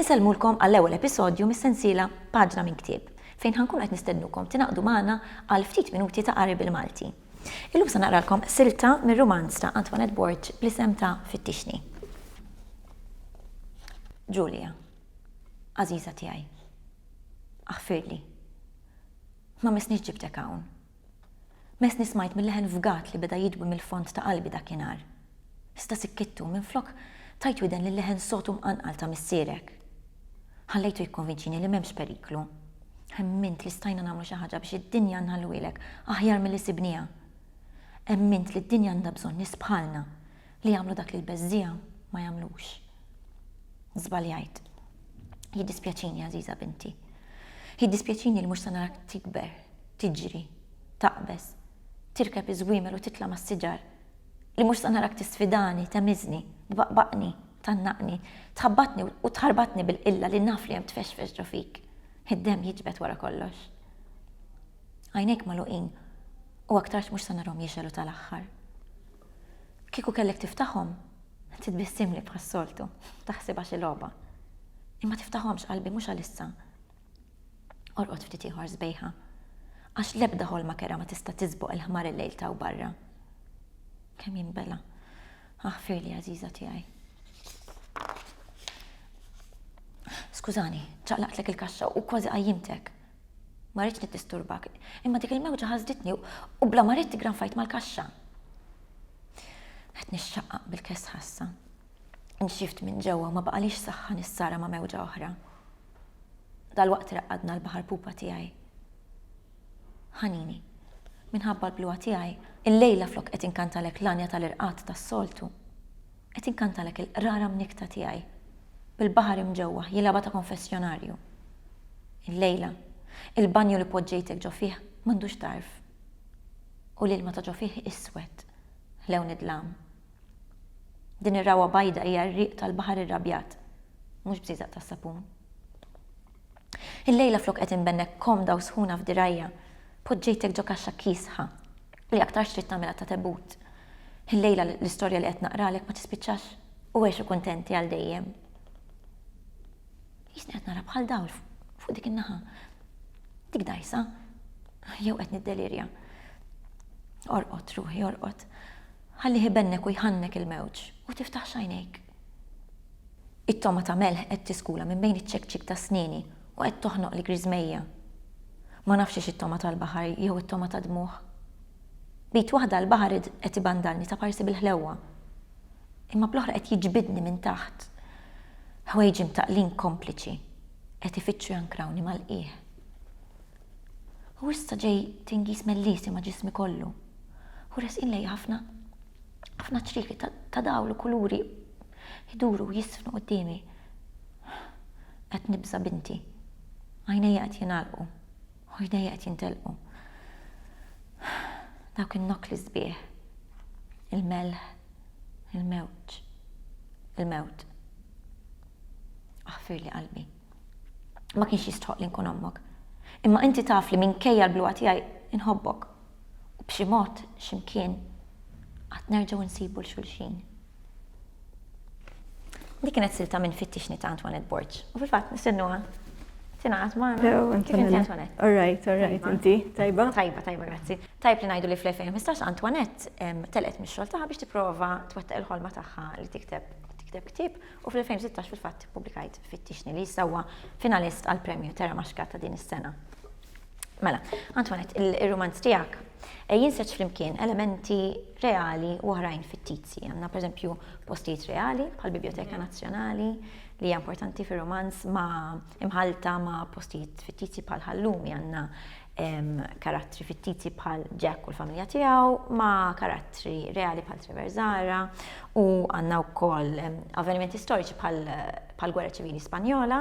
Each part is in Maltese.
Insellmulkom għall-ewwel episodju mis-sensiela Paġna minn Ktieb, fejn ħankun qed nistennukom tingħaqdu magħna għal ftit minuti ta' qari bil-Malti. Illum se naqralkom silta mir-rumanz ta' Antoinette Borg bl-isem ta' Fittixni. Julia, għażiża tiegħi, aħfirli. Ma missniex ġibtek hawn. Messni smajt mil-leħen fgat li beda jidwi mill-fond ta' qalbi dakinhar. Iżda sikkittu, minflok tajt widen lil-leħen sod u mqanqal ta' missierek. Ħallejtu jikkonvinċini li m'hemmx periklu. Emmint li stajna nagħmlu xi ħaġa biex id-dinja nħalluhielek aħjar milli sibniha. Emmint li d-dinja għandha bżonn nies bħalna li jagħmlu dak li l-beżżiegħa ma jagħmlux. Żbaljajt. Jiddispjaċini, għażiża binti. Jiddispjaċini li mhux se narak tikber, tiġri, taqbeż, tirkeb iż-żwiemel u titla' mas-siġar. Li mhux se narak tisfidani, temiżni, tbaqbaqni, tgħannaqni, tħabbatni u tħarbatni bil-qilla li naf li hemm tfexfex ġo fik. Id-demm jiġbed wara kollox. Għajnejk magħluqin u aktarx mhux se narhom jixgħelu tal-aħħar. Kieku kellek tiftaħhom, titbissimli bħas-soltu, taħsibha xi logħba. Imma tiftaħhomx qalbi mhux għalissa. Orqod ftit ieħor sbejħa, għax l-ebda ħolma kerha ma tista' tiżboq il-ħmar il-lejl t'hawn barra. Kemm jinbela'. Aħfirli għażiża tiegħi. Skużani, ċaqlaqtlek il-kaxxa u kważi qajjimtek. Ma rridx niddisturbak, imma dik il-mewġa ħasditni u bla ma ridt granfajt mal-kaxxa. Qed nixxaqqaq bil-kesħa issa. Inxift minn ġewwa u ma baqalix saħħa nissara ma' mewġa oħra. Dalwaqt raqqadna l-baħar pupa tiegħi. Ħanini. Minħabba l-bluha tiegħi, illejla flok qed inkantalek l-għanja tal-irqad tas-soltu, qed inkantalek il-qrara mnikkta tiegħi, bil-baħar imġewwaħ jilgħabha ta' konfessjonarju. Illejla, il-banju li poġġejtek ġo fih m'għandux tarf. U l-ilma ta' ġo fih iswed, lewn id-dlam. Din ir-ragħwa bajda hija r-riq tal-baħar irrabjat, mhux bżieżaq tas-sapun. Illejla flok qed inbennek komda u sħuna f'dirgħajja, poġġejtek ġo kaxxa kiesħa li aktarx trid tagħmilha ta' tebut. Illejla l-istorja li qed naqralek ma tispiċċax u għexu kuntenti għal dejjem. Jisni qed nara bħal dawl fuq dik in-naħa. Dik dajsa, jew qed niddelirja. Orqod, ruħi, orqod. Ħallih ibennek u jħannek il-mewġ u tiftaħx għajnejk. It-togħma ta' melħ qed tiskula minn bejn iċ-ċekċik ta' snieni u qed toħnoqli griżmejja. Ma nafx hix it-togħma tal-baħar jew it-togħma tad-dmugħ. B'id waħda l-baħar qed ibandalni ta' parsi bil-ħlewwa. Imma bl-oħra qed jiġbidni minn taħt. Ħwejġi mtaqqlin kompliċi qed ifittxu jankrawni mal-qiegħ. U issa ġej tingiż mellieħsi ma' ġismi kollu. U resqin lejja ħafna ħafna ċrieki ta' dawl u kuluri jduru u jisfnu quddiemi. Qed nibża' binti. Għajnejja qed jingħalqu u jdejja qed jintelqu. Dawk in-nokkli sbieħ. Il-melħ, il-mewġ, il-mewt. Aħfirli qalbi. ma kienx jistħoq li nkun ommok. Imma inti taf li minkejja l-bluha tiegħi nħobbok. U b'xi mod, x'imkien, għad nerġgħu nsibu 'l xulxin. Dik kienet silta minn Fittixni ta' Antoinette Borg. U fil-fatt nistennuha tingħaqad magħna. Kif inti Antoinette? All right, all right, inti tajba? Tajba, tajba, grazzi. Tajb li ngħidu li fl-2015 Antoinette telqet mix-xogħol tagħha biex tipprova twettaq il-ħolma tagħha li tikteb tikteb ktieb u fl-2016 fil-fatt ippubblikajt Fittixni li issa huwa finalist għal premju Terra Maxka ta' din is-sena. Mela, Antoinette, il-rumanz tiegħek eh, jinseġ flimkien elementi reali u oħrajn fittizji. Għandna pereżempju postijiet reali bħal Biblioteka Nazzjonali li hija importanti fir-romanz ma' imħalta ma' postijiet fittizji bħal ħallumi għandna karattri fittizji bħal Jack u l-familja tiegħu ma' karattri reali bħal Trevor Zara u għandna wkoll avvenimenti storiċi bħal gwerra ċivili Spanjola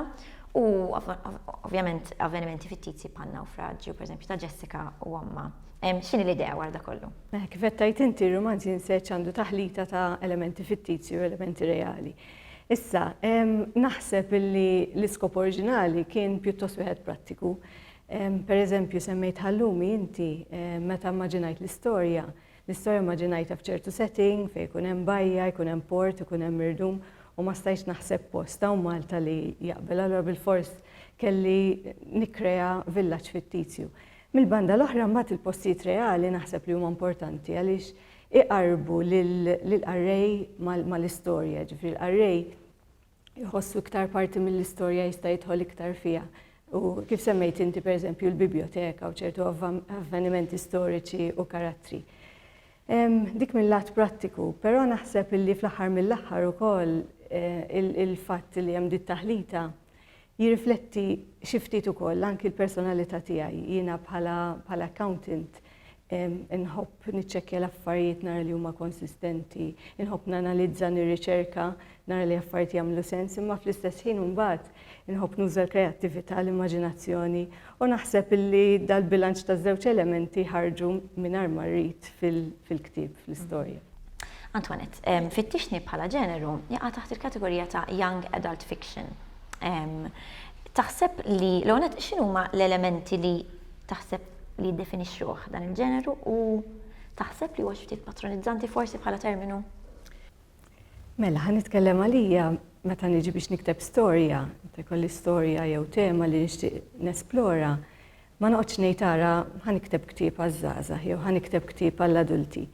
u ovvjament avvenimenti fittizji bħal nawfraġġju pereżempju ta' Jessica u omma. X'inhi l-idea wara da kollu? Eh, kif qed tgħid inti r-rumanz jinseċ għandu taħlita ta' elementi fittizji u elementi reali. Issa, naħseb li l-iskop oriġinali kien pjuttost wieħed prattiku Per eżempju, semmejt ħallumi inti, meta mmaġinajt l-istorja, l-istorja mmaġinajtha f'ċertu setting fejn ikun hemm bajja, jkun hemm port, ikun hemm irdum u ma stajtx naħseb post hawn Malta li jaqbel allura bilfors kelli nikkrea villaġġ fittizju. Mill-banda l-oħra mbagħad il-postijiet reali naħseb li huma importanti għaliex iqarrbu lill-qarrej mal-istorja, jiġifieri l-qarrej jħossu iktar parti mill-istorja jista' jidħol iktar fiha. U kif semmejt inti pereżempju l-biblioteka u ċertu avvenimenti storiċi u karattri. Dik mill-lat prattiku, però naħseb illi fl-aħħar mill-aħħar ukoll eh, il-fatt li hemm dit taħlita Jirrifletti xi ftit ukoll anki l-personalità tiegħi. Jiena bħala bħala accountant inħobb niċċekkja l-affarijiet nara li huma konsistenti, inħobb nanalizza nirriċerka nara li affarijiet jagħmlu sens, imma fl-istess ħin imbagħad inħobb nuża l-kreattività, l-immaġinazzjoni U naħseb illi dal-bilanċ taż-żewġ elementi ħarġu mingħajr ma rrid fil-ktieb, fl-istorja. Antoinette, Fittixni bħala ġeneru jaqa' taħt il-kategorija ta' young adult fiction. Taħseb li l-ewwel x'inhuma l-elementi li taħseb li jiddefinixxuh dan il-ġeneru u taħseb li huwa xi ftit patronizzanti forsi bħala terminu? Mela, ħa nitkellem għalija meta niġi biex nikteb storja, meta jkolli storja jew tema li nixtieq nesplora, ma noqgħodx ngħid ara ħa nikteb ktieb għaż-żgħażagħ jew ħa nikteb ktieb għall-adulti.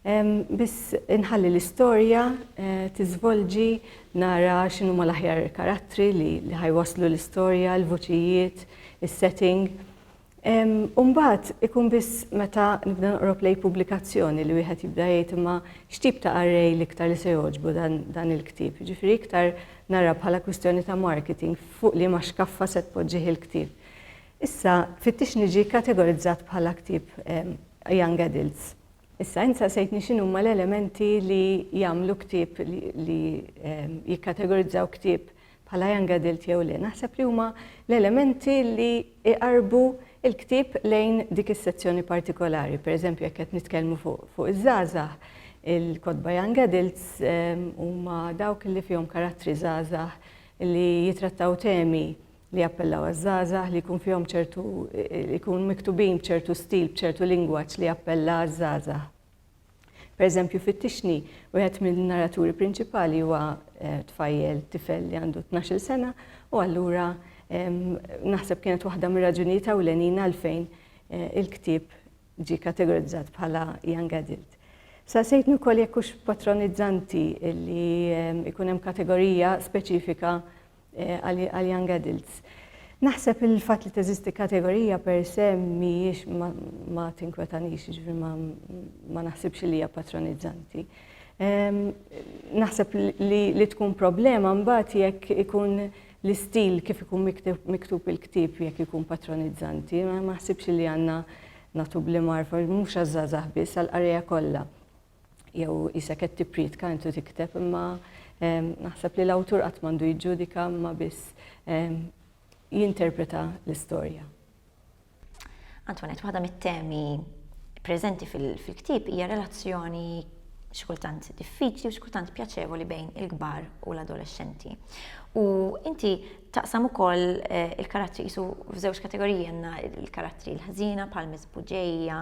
Biss inħalli l-istorja eh, tiżvolġi nara x'inhu ma l-aħjar karattri li ħajwaslu l-istorja, l-vuċijiet, is-setting. U mbagħad ikun biss meta nibda noqrob lejn pubblikazzjoni li wieħed jibda jgħid imma x'tip ta' array l-iktar li se jogħġbu dan il-ktieb. Ġifieri iktar nara bħala kwistjoni ta' marketing fuq liema xkaffa se tpoġġih il-ktieb. Issa fittix niġi kategorizzat bħala ktieb young adults. Issa int saqsejtni x'inhuma l-elementi li jagħmlu ktieb li jikkategorizzaw ktieb bħala young adult jew le, naħseb li huma l-elementi li jqarrbu l-ktieb lejn dik is-sezzjoni partikolari. Per eżempju, jekk qed nitkellmu fuq iż-żgħażagħ, il-kotba young adults ehm, huma dawk li fihom karattri żgħażagħ li jitrattaw temi li jappellaw għaż-żgħażagħ li jkun fihom ċertu jkun miktubin b'ċertu stil, b'ċertu lingwaġġ li jappella għaż-żgħażagħ. Pereżempju, fit-Tixni, wieħed mill-narraturi prinċipali huwa eh, tfajjel tifel li għandu 12 sena u allura naħseb kienet waħda mir-raġunijiet ewlenin għalfejn eh, il-ktieb ġi kategorizzat bħala young adult. Sa sejtni wkoll jekk hux patronizzanti li ikun hemm kategorija speċifika għal young adults. Naħseb li l-fatt li teżisti kategorija per se mhijiex ma tinkwetanix, jiġifieri ma naħsibx li hija patronizzanti. Naħseb li tkun problema mbagħad jekk ikun l-istil kif ikun miktub il-ktieb jekk ikun patronizzanti, ma naħsibx li għandna nagħtu bl-imgħarfa mhux għaż-żgħażagħ biss għall-qarrejja kollha. jew isek qed tipprietka intu tikteb imma naħseb li l-awtur qatt m'għandu jiġġudika imma biss jinterpreta l-istorja. Antonet, waħda mit-temi preżenti fil-ktib hija relazzjoni xkultant diffiċli u xkultant pjaċevoli bejn il-kbar u l-adolescenti. U inti taqsam ukoll eh, il-karattri jisu f'żewġ kategoriji għandna il-karattri l-ħżina bħal misbuġeja,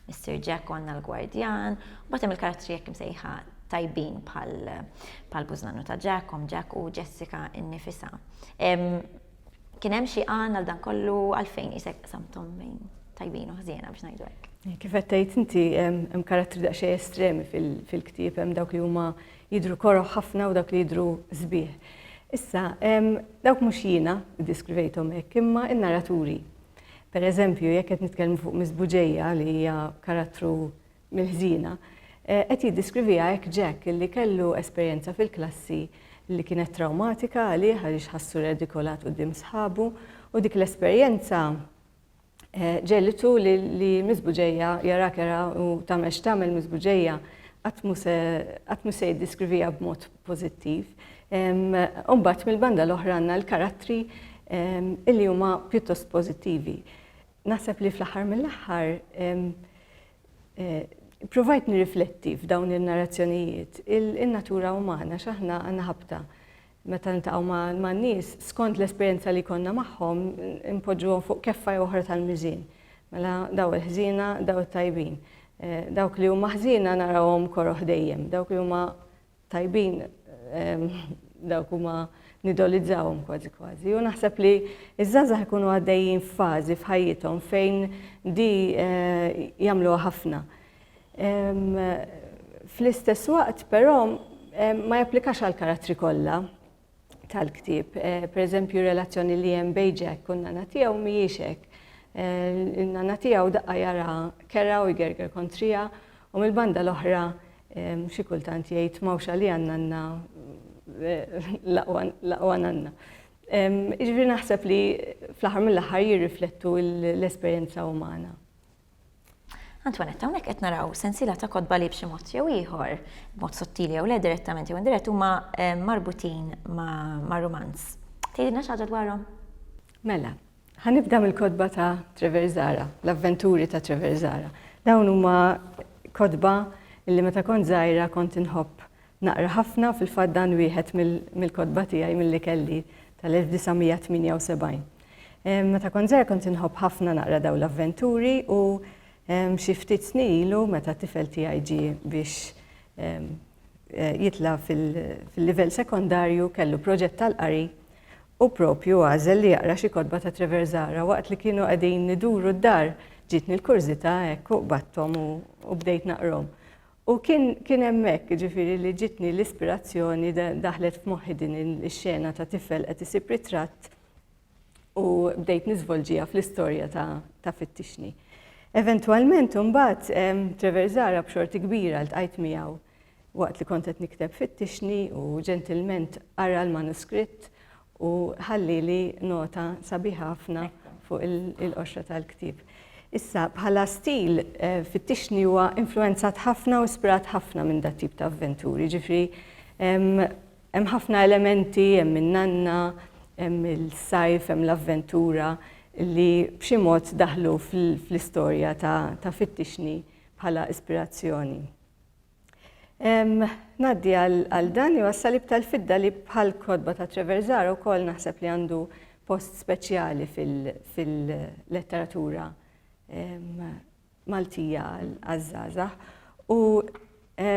Is-Sir Jack konna l-gwardjan, u bagħad hemm il-karattri hekk imsejħa tajbin bħal bużnannu ta' Jack, Om Jack u Jessica innifisha. Kien hemm xi għan għal dan kollu għalfejn isek samtom bejn tajbin u ħżiena biex ngħidu hekk. Kif qed tgħid inti hemm karattri daqsxejn estremi fil-ktieb hemm dawk li huma jidru koroħ ħafna u dawk li jidru sbieħ. Issa, dawk mhux jiena ddiskrivejthom hekk imma n-naraturi Pereżempju, jekk qed nitkellmu fuq Miss Buġeja li hija karattru mill-ħżiena, eh, qed jiddiskriviha hekk Jack li kellu esperjenza fil-klassi li kienet trawmatika għalih għaliex ħassu redikolat quddiem sħabu u dik l-esperjenza eh, ġelitu li Miss Buġeja jara kera u tagħmel x'tagħmel Miss Buġeja qatt mu se jiddiskriviha b'mod pożittiv. U mbagħad mill-banda l-oħra għandna l-karattri illi huma pjuttost pożittivi. Naħseb li fl-aħħar mill-aħħar eh, provajt nirrifletti f'dawn il-narrazzjonijiet il-natura umana x'aħna għandna ħabta meta nintaqgħu ma' nies skont l-esperjenza li konna magħhom impoġġuhom fuq keffa jew oħra tal-miżin. Mela daw il-ħżina, daw it-tajbin. Eh, dawk li huma ħżina narawhom koroħ dejjem, dawk li huma tajbin dawk huma nidolizzawhom kważi kważi. U naħseb li iż-żgħażagħ ikunu għaddejjin f'fażi f'ħajjithom fejn di eh, jagħmluha ħafna. Fl-istess waqt però ma japplikax għal karattri kollha. tal-ktieb. Per eżempju, relazzjoni li hemm bejn Jack u n-nana tiegħu mhijiex hekk. N-nana tiegħu daqqa jara kera u jgerger kontrija u mill-banda l-oħra xi kultant jgħid m'hawnx għalija n-nanna l-aqwa nanna. Jiġifieri naħseb li fl-aħħar mill-aħħar jirriflettu l-esperjenza umana. Antoinette, hawnhekk qed naraw sensiela ta' kotba li b'xi mod jew ieħor, b'mod sottili jew le direttament jew indirett huma eh, marbutin ma' rumanz. Tgħidilna xi ħaġa dwarhom? Mela, ħanibda mill-kotba ta' Treverzara, l-avventuri ta' Treverzara. Dawn huma kotba li meta kont żgħira kont inħobb naqra ħafna fil-fatt dan wieħed mill-kotba tiegħi milli kelli tal-1978. Meta kont żgħir kont inħobb ħafna naqra dawn l-avventuri u xi ftit snin ilu meta tifel tiegħi ġie biex eh, jitla' fil-livell sekondarju kellu proġett tal-qari u propju għażel li jaqra xi kotba ta' Trevor Zara waqt li kienu qegħdin niduru d-dar ġitni l-kurżità hekk u qbattom u bdejt naqrom. U kien hemmhekk ġifieri li ġitni l-ispirazzjoni daħlet f'moħħi din ix-xena ta' tifel qed isib ritratt u bdejt niżvolġija fl-istorja ta' Fittixni. Eventwalment imbagħad Trevor Zara b'xorti kbira ltqajt miegħu waqt li kont qed nikteb Fittixni u ġentilment qara l-manuskritt u ħallili nota sabiħa ħafna fuq il-qoxra tal-ktieb. Issa, bħala stil, eh, fittixni huwa influenzat ħafna u spirat ħafna minn dat tip ta' avventuri, ġifri Hemm ħafna elementi, hemm in-nanna, hemm is-sajf, hemm l-avventura li b'xi mod daħlu fl-istorja ta' Fittixni bħala ispirazzjoni. Ngħaddi għal dan jew għas-Salib tal-Fidda li bħall-kotba ta' Treversar ukoll naħseb li għandu post speċjali fil-letteratura Maltija għaż-żgħażagħ u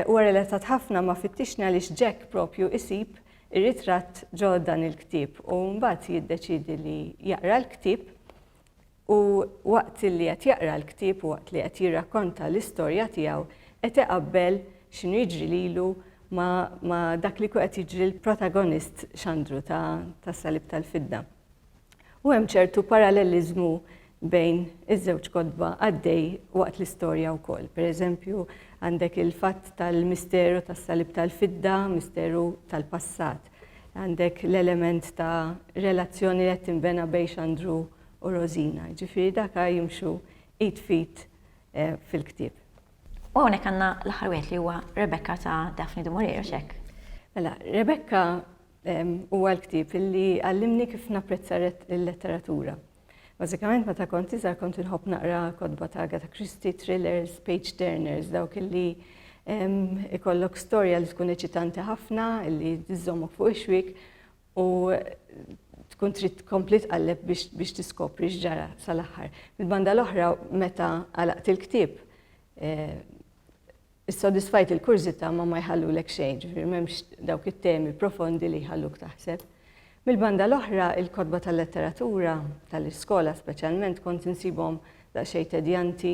huwa relatat ħafna ma' Fittixni għaliex Jack propju isib ir-ritratt ġo dan il-ktieb u mbagħad jiddeċiedi li jaqra l-ktieb u waqt li qed jaqra l-ktieb u waqt li qed jirrakkonta l-istorja tiegħu qed iqabbel x'inhu jiġri lilu ma, ma dak li qed jiġri l-protagonist xandru ta' Salib tal-Fidda. u hemm ċertu paralleliżmu bejn iż-żewġ kotba għaddej waqt l-istorja wkoll. Per eżempju, għandek il-fatt tal-misteru tas-salib tal-fidda, misteru tal-passat. Għandek l-element ta' relazzjoni li qed tinbena bejn Xandru u Rosina. Ġifieri dak jimxu id fit eh, fil-ktieb. U hawnhekk għandna l-aħħar wieħed li huwa Rebecca ta' Daphne du Maurier, xek? Mela, Rebecca Huwa l-ktieb li għallimni kif napprezza l-letteratura. Bażikament meta kont iżgħar kont inħobb naqra kotba ta' Agatha Christie, thrillers, page turners, dawk illi ikollok storja li tkun eċitanti ħafna, illi tiżommok fuq ix-xwik u tkun trid tkompli tqalleb biex tiskopri x'ġara sal-aħħar. Mill-banda l-oħra meta għalaqt il-ktieb eh, issodisfajt il-kurżità ma ma jħallulek xejn, ġifieri m'hemmx dawk it-temi profondi li jħalluk taħseb. Mill-banda l-oħra, il-kotba tal-letteratura, tal-iskola speċjalment, kont insibhom daqsxejn tedjanti,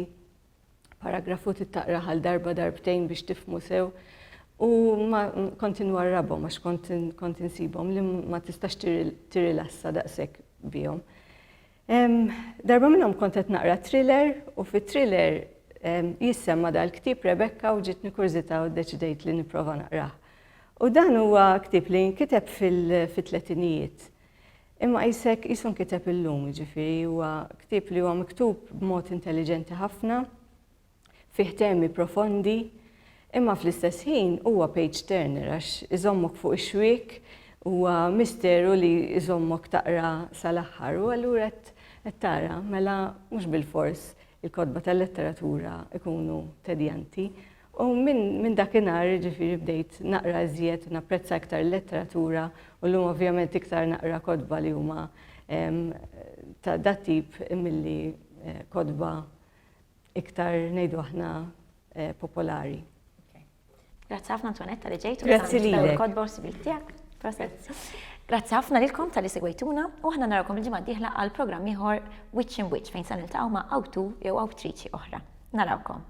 paragrafu tittaqra għal darba darbtejn biex tifmu sew, u ma kont inwarrabhom għax kont insibhom li ma tistax tirilassa daqshekk bihom. Darba minnhom kont qed naqra thriller u fit-thriller jissemma dal-ktieb Rebecca u ġitni kurżità u ddeċidejt li nipprova naqrah. U dan huwa ktieb li nkiteb fil-tletinijiet. Imma jisek jisun kiteb illum, ġifiri, huwa ktieb li huwa miktub b'mod intelligenti ħafna. Fih temi profondi, imma fl-istess ħin huwa page turner għax iżommok fuq ix-xwiek, huwa misteru li jżommok taqra sal-aħħar u allura qed tara mela mhux bilfors il-kotba tal-letteratura jkunu tedjanti. U minn dakinhar jiġifieri bdejt naqra iżjed u napprezza iktar il-letteratura u llum ovvjament iktar naqra kotba li huma ta' dat-tip milli kotba iktar ngħidu aħna eh, popolari. Grazzi ħafna Antonetta li ġejtu. Grazzi li. Kodba u sibil tiegħek. Grazzi ħafna lilkom tal-li segwejtuna u ħna narakom il-ġimgħa diħla għal programm ieħor Witch in Witch fejn se niltaqgħu ma' awtu jew awtriċi oħra. Narawkom.